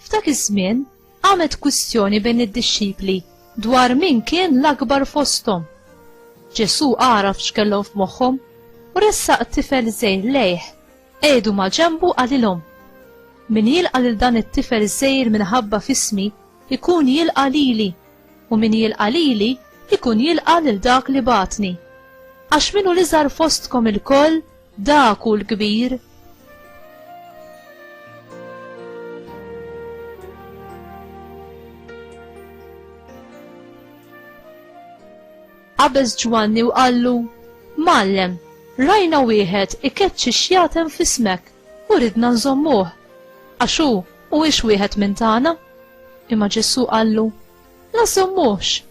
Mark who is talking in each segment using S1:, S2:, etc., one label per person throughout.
S1: F'dak iż-żmien qamet kwistjoni bejn id-dixxipli dwar min kien l-akbar fosthom. Ġesù għaraf x'kellhom f'moħħhom u ressaq tifel żejr lejh qegħdu ma' ġembu qalilhom. Min jilqa' lil dan it-tifel żejr minħabba fismi ikun jilqa' lili, u min jilqa' lili jkun jilqa' lil dak li bagħatni. Għax min hu l-iżgħar fostkom ilkoll, dak hu l-kbir. Qabeż Ġwanni u qallu, Mgħallem, rajna wieħed ikeċċi xjaten f'ismek u ridna nżommuh, għax hu Huwiex wieħed minn tagħna? Imma Ġesù qallu, La żommuhx,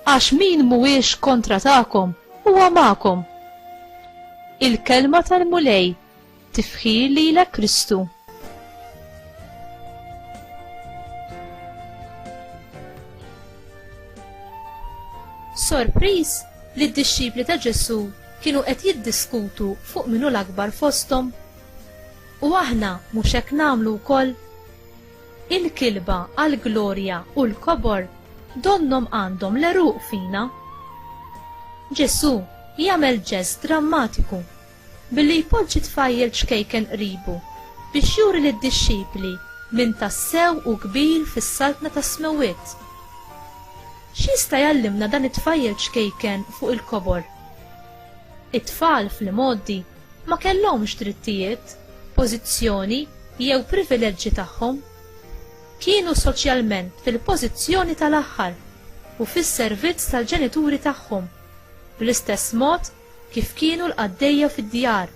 S1: għax min mhuwiex kontra tagħkom huwa magħkom. Il-kelma tal-Mulej tifħir lilek Kristu. Sorpriż li d-dixxipli ta' Ġesù kienu qed jiddiskutu fuq minnu l-akbar fosthom U aħna mhux hekk nagħmlu wkoll? Il-kilba għall-glorja u l-kobor donnhom għandhom l-għeruq fina. Ġesù jagħmel ġest drammatiku billi jpoġġi tfajjel ċkejken qribu biex juri lid-dixxipli min tassew hu kbir fis-saltna tas-smewwiet. X'jista' jgħallimna dan it-tfajjel ċkejken fuq il-kobor? It-tfal fl-imgħoddi ma kellhomx drittijiet, pożizzjoni jew privileġġi tagħhom. Kienu soċjalment fil-pożizzjoni tal-aħħar u fis-servizz tal-ġenituri tagħhom, bl-istess mod kif kienu l-qaddejja fid-djar.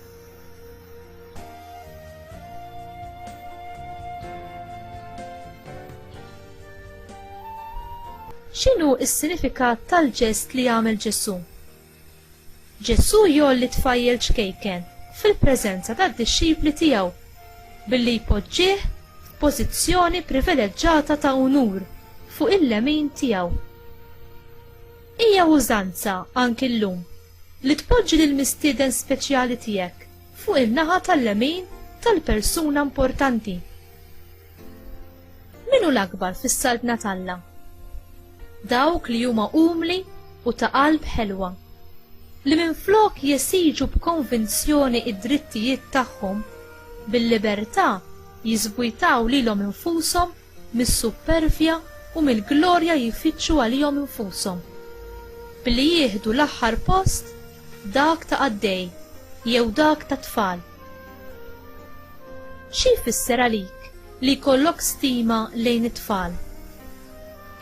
S1: X'inhu s-sinifikat tal-ġest li għamel Ġesù? Ġesù jgħolli tfajjel ċkejken fil-preżenza tad-dixxipli tiegħu billi jpoġġih f'pożizzjoni privileġġata ta' unur fuq il-lemin tiegħu. Hija użanza anki llum li tpoġġi lill-mistieden speċjali tiegħek fuq in-naħa tal-lemin tal-persuna importanti. Min hu l-akbar fis-saltna t'Alla? Dawk li huma umli u ta' qalb ħelwa, li minflok jesiġu b'konvinzjoni id-drittijiet tagħhom, bil-libertà jiżbwitaw lilhom infushom mis-suppervja u mill-glorja jfittxu għalihom infushom. Billi jieħdu l-aħħar post, dak ta' qaddej jew dak tat-tfal. Xi jfisser għalik li jkollok stima lejn it-tfal?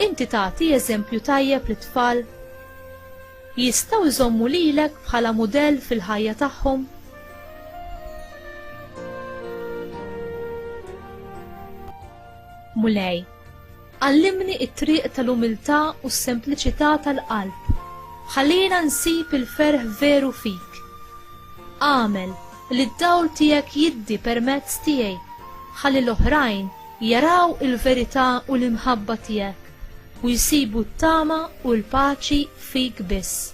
S1: Inti tagħti eżempju tajjeb lit-tfal? Jistgħu jżommu lilek bħala mudell fil-ħajja tagħhom? Mulej, Għallimni t-triq tal-umiltà u s-sempliċità tal-qalb. Ħallina nsib il-ferħ veru fik. Agħmel li d-dawl tiegħek jiddi permezz tiegħi ħalli l-oħrajn jaraw il-verità u l-imħabba tiegħek u jsibu t-tama u l-paċi fik biss.